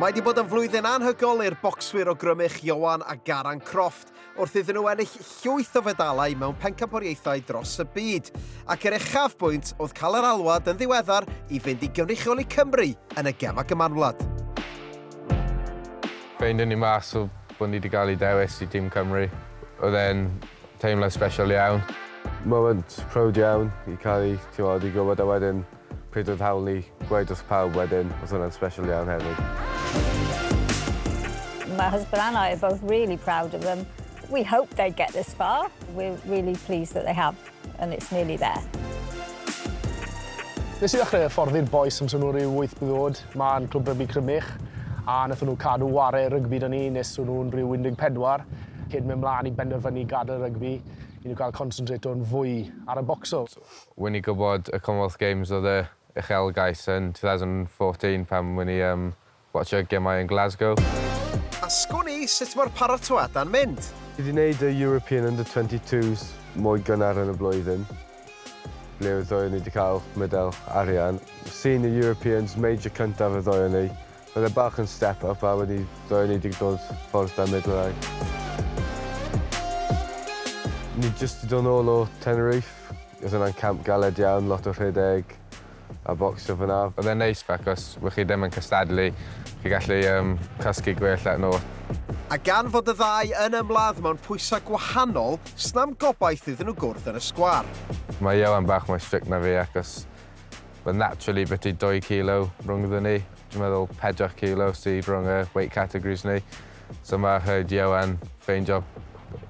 Mae wedi bod yn flwyddyn anhygol i'r bocswyr o Grymych, Ioan a Garan Croft, wrth iddyn nhw ennill llwyth o fedalau mewn pencampwriaethau dros y byd. Ac yr uchafbwynt oedd cael yr alwad yn ddiweddar i fynd i gynrychioli Cymru yn y gemau gymanwlad. Ffeindwn ni mas o bod ni wedi cael ei dewis i Tîm Cymru, oedd e'n Teimlad special iawn. Moment proud iawn i cael i, t'mod, i gwybod a wedyn pryd oedd hawl ni gweud wrth pawb wedyn, oedd hwnna'n special iawn hefyd. My husband and I are both really proud of them. We hoped they'd get this far. We're really pleased that they have and it's nearly there. Nes i ddechrau hyfforddi'r bois am tua ryw wyth blwydd o'd. Mae'n clwb rygbi Crymych a wnaethon nhw cadw whare rygbi 'da ni nes o'n nhw'n rhyw 14 cyn mynd mlaen i benderfynu gadael rygbi i nhw cael consentrato'n fwy ar y bocso. Wyn i gwybod y Commonwealth Games oedd y uchelgais yn 2014 pan wyn i yym watsio gemau yn Glasgow. Asgwn i sut mae'r paratoada'n mynd. Fi 'di 'neud y European Under 22s mwy gynnar yn y blwyddyn. Ble oedd ddoe ni di cael medal arian. Senior Europeans, major cyntaf y ddoe ni. Oedd e bach yn step up a wedi ddoe ni di dod ffordd da medlau. Ni jyst di dod nôl o Tenerife. Oedd hwnna'n camp galed iawn, lot o rhedeg. a bocsio fyna. Oedd e'n neis achos wy' chi ddim yn cystadlu, chi gallu yym cysgu gwell at nhw. A gan fod y ddau yn ymladd mewn pwysau gwahanol, sna'm gobaith iddyn nhw gwrdd yn y sgwar. Mae Ioan bach mwy strict na fi achos ma' naturally biti dwy kilo rhyngddon ni, dwi'n meddwl pedwar kilo sy rhwng y weight categories ni. So mae rhaid i Owen ffeindio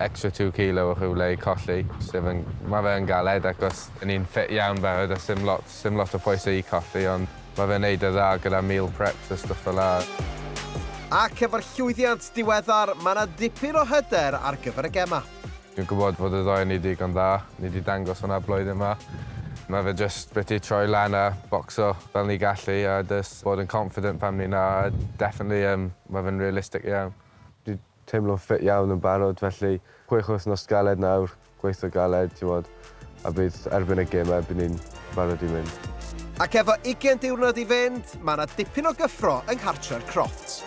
extra two kilo o rhywle i colli, sef yn... Mae fe yn galed acos y'n ni'n ffit iawn barod a sdim lot, sdim lot o phwysau i colli ond mae fe'n neud e dda gyda meal preps a stwff fel 'a. Ac efo'r llwyddiant diweddar, mae 'na dipyn o hyder ar gyfer y gemau. Dwi'n gwybod fod y ddoi o ni digon dda, ni 'di dangos hwnna blwyddyn 'ma. Mae fe jyst biti troi lan a bocso fel ni gallu a jyst bod yn confident pan ni 'na a definitely yym mae fe'n realistic iawn. Dwi teimlo'n ffit iawn yn barod felly chwech wythnos galed nawr, gweithio galed, t'mod. a bydd erbyn y gemau bydd ni'n barod i mynd. Ac efo ugain diwrnod i fynd, mae yna dipyn o gyffro yng nghartre'r Crofts.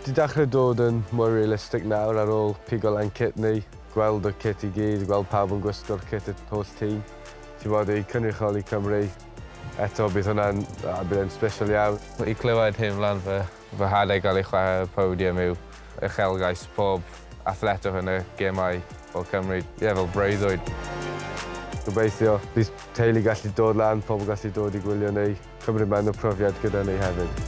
Di dachrau dod yn mwy realistic nawr ar ôl pigo lan cit ni, gweld y cit i gyd, gweld pawb yn gwisgo'r cit y holl tîm. Ti'n gwbod, i cynrychioli Cymru eto bydd hwnna'n, bydd e'n special iawn. I clywed hen flan fy Fy nhad a'i gael ei chwarae ar y podium yw uchelgais pob athletwr yn y gemau o Cymru, ie, fel breuddwyd. Gobeithio bydd teulu gallu dod lan, pobl gallu dod i gwylio neu cymryd man y profiad gyda ni hefyd.